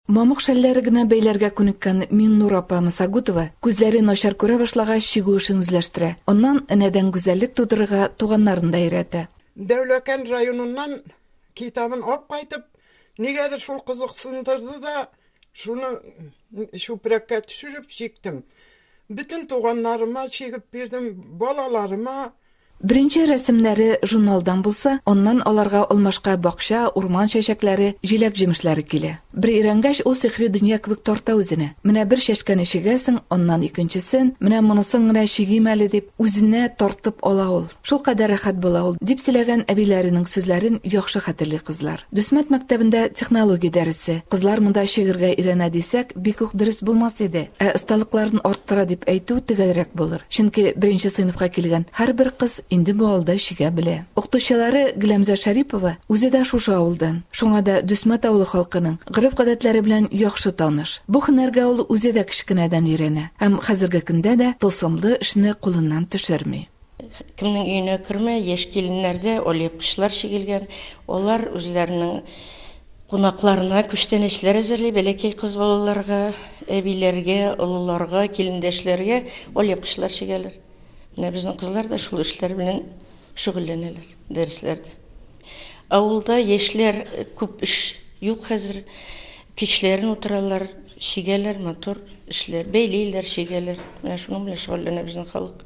Мамык шәлләре генә бәйләргә күнеккән Миңнур апа Мосагутова күзләре начар күрә башлагач чигү эшен үзләштерә. Аннан энәдән гүзәллек тудырырга туганнарын да өйрәтә. Дәүләкән районыннан китабын алып кайтып, нигәдер шул кызыксындырды да, шуны чүпрәккә төшереп чиктем. Бөтен туганнарыма чигеп бирдем, балаларыма. Беренче рәсемнәре журналдан булса, аннан аларга алмашка бакча, урман чәчәкләре, җиләк-җимешләре килә. Бер өйрәнгәч, ул сихри дөнья кебек тарта үзенә. Менә бер чәчкәне чигәсең, аннан икенчесен, менә монысын гына чигим әле дип, үзенә тартып ала ул. Шулкадәр рәхәт була ул, дип сөйләгән әбиләренең сүзләрен яхшы хәтерли кызлар. Дусмат мәктәбендә технология дәресе. Кызлар монда чигергә өйрәнә дисәк, бик үк дөрес булмас иде. Ә осталыкларын арттыра дип әйтү төгәлрәк булыр. Чөнки беренче сыйныфка килгән һәрбер кыз инде бу авылда чигә белә. Укытучылары Гөләмзә Шәрипова үзе дә шушы авылдан. Шуңа да Дусмат авылы халкының гореф-гадәтләре белән яхшы таныш. Бу һөнәргә ул үзе дә кечкенәдән өйрәнә һәм хәзерге көндә дә тылсымлы эшне кулыннан төшерми. Кемнең өенә кермә, яшь киленнәргә алъяпкычлар чигелгән. Алар үзләренең кунакларына күчтәнәчләр әзерли, бәләкәй кыз балаларга, әбиләргә, олыларга, килендәшләргә алъяпкычлар чигәләр. Менә безнең кызлар да шул эшләр белән шөгыльләнәләр дәресләрдә. Авылда яшьләр күп эш юк хәзер. Кичләрен утыралар, чигәләр, матур эшләр, бәйлиләр, чигәләр. Менә шуның белән шөгыльләнә безнең халык.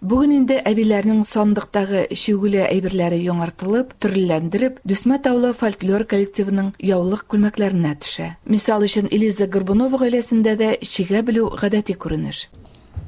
Бүген инде әбиләрнең сандыктагы чигүле әйберләре яңартылып, төрлеләндереп, Дүсмә Таулы фольклор коллективының яулык күлмәкләренә төшә. Мисал өчен, Элиза Горбунова гаиләсендә дә чигә белү гадәти күренеш.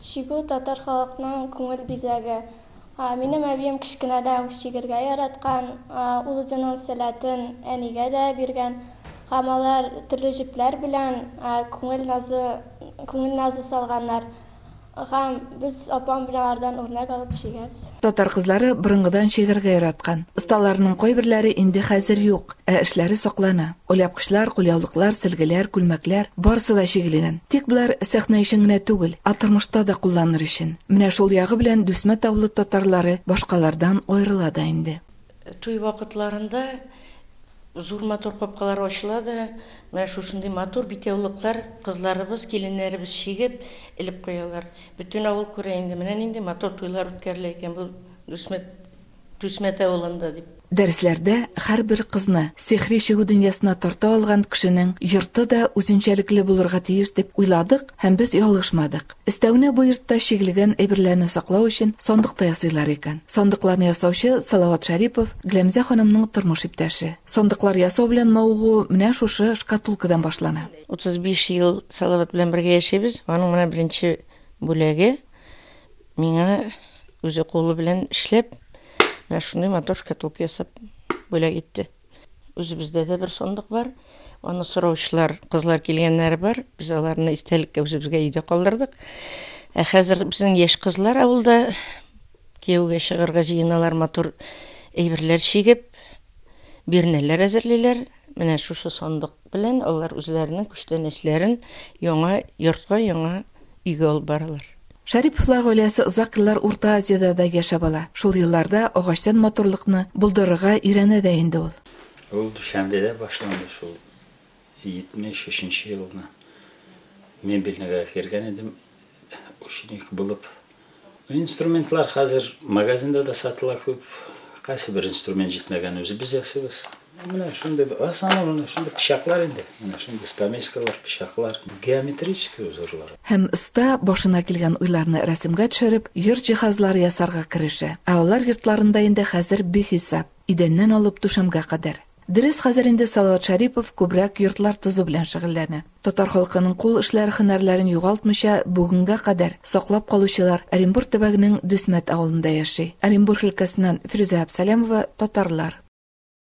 Чигү, татар халыкның күңел бизәге. Минем әбием кечкенәдән үк чигергә яраткан. Ул үзенең сәләтен әнигә дә биргән һәм алар төрле җепләр белән күңел назы күңел назы салганнар. Һәм без апам белән алардан үрнәк алып чигәбез. Татар кызлары борынгыдан чигәргә яраткан. Осталарының кайберләре инде хәзер юк, ә эшләре саклана. Оляпкычлар, кулъяулыклар, сөлгеләр, күлмәкләр, барысы да чигелгән. Тик болар сәхнә өчен генә түгел, ә тормышта да кулланыр өчен. Менә шул ягы белән Дүсмә Тавлы татарлары башкалардан аерыла да инде. Туй вакытларында зур матур капкалар ачыла да, менә шушындый матур битяулыклар кызларыбыз, киленнәребез чигеп, элеп куялар. Бөтен авыл күрә инде, менә нинди матур туйлар үткәрелә икән бу Дүсмәт, Түсмәт авылында дип. Дәресләрдә һәрбер кызны сихри чигү дөньясына тарта алган кешенең йорты да үзенчәлекле булырга тиеш дип уйладык һәм без ялгышмадык. Өстәвенә бу йортта чигелгән әйберләрне саклау өчен сандык та ясыйлар икән. Сандыкларны ясаучы Салават Шәрипов, Гләмзә ханымның тормыш иптәше. Сандыклар ясау белән мавыгу менә шушы шкатулкадан башлана. 35 ел Салават белән бергә яшибез. Аның менә беренче бүләге, миңа үзе кулы белән эшләп, менә шундый матур шкатулка ясап бүләк итте. Үзебездә дә бер сандык бар. Аны сораучылар, кызлар килгәннәре бар. Без аларны истәлеккә үзебезгә өйдә калдырдык. Ә хәзер безнең яшь кызлар авылда кияүгә чыгарга җыеналар, матур әйберләр чигеп, бирнәләр әзерлиләр. Менә шушы сандык белән алар үзләренең күчтәнәчләрен яңа йортка, яңа өйгә алып баралар. Шәриповлар гаиләсе озак еллар Урта Азиядә дә яшәп ала. Шул елларда агачтан матурлыкны булдырырга өйрәнә дә инде ул. Ул Дүшәнбедә башланды шул. 73 нче елны мебельныйга кергән идем ученик булып. Инструментлар хәзер магазинда да сатыла күп. Кайсы бер инструмент җитмәгән үзебез ясыйбыз. Менә шундый основном менә шундый пычаклар инде. Менә шундый стамескалар, пычаклар, геометрический узорлар. Һәм оста, башына килгән уйларны рәсемгә төшереп, йорт җиһазлары ясарга керешә. Ә алар йортларында инде хәзер бихисап, идәннән алып түшәмгә кадәр. Дөрес, хәзер инде Салават Шәрипов күбрәк йортлар тозу белән шөгыльләнә. Татар халкының кул эшләре һөнәрләрен югалтмыйча бүгенгә кадәр саклап калучылар Оренбур төбәгенең Дөсмәт авылында яши. Оренбур өлкәсеннән Фирүзә Абсалямова, татарлар.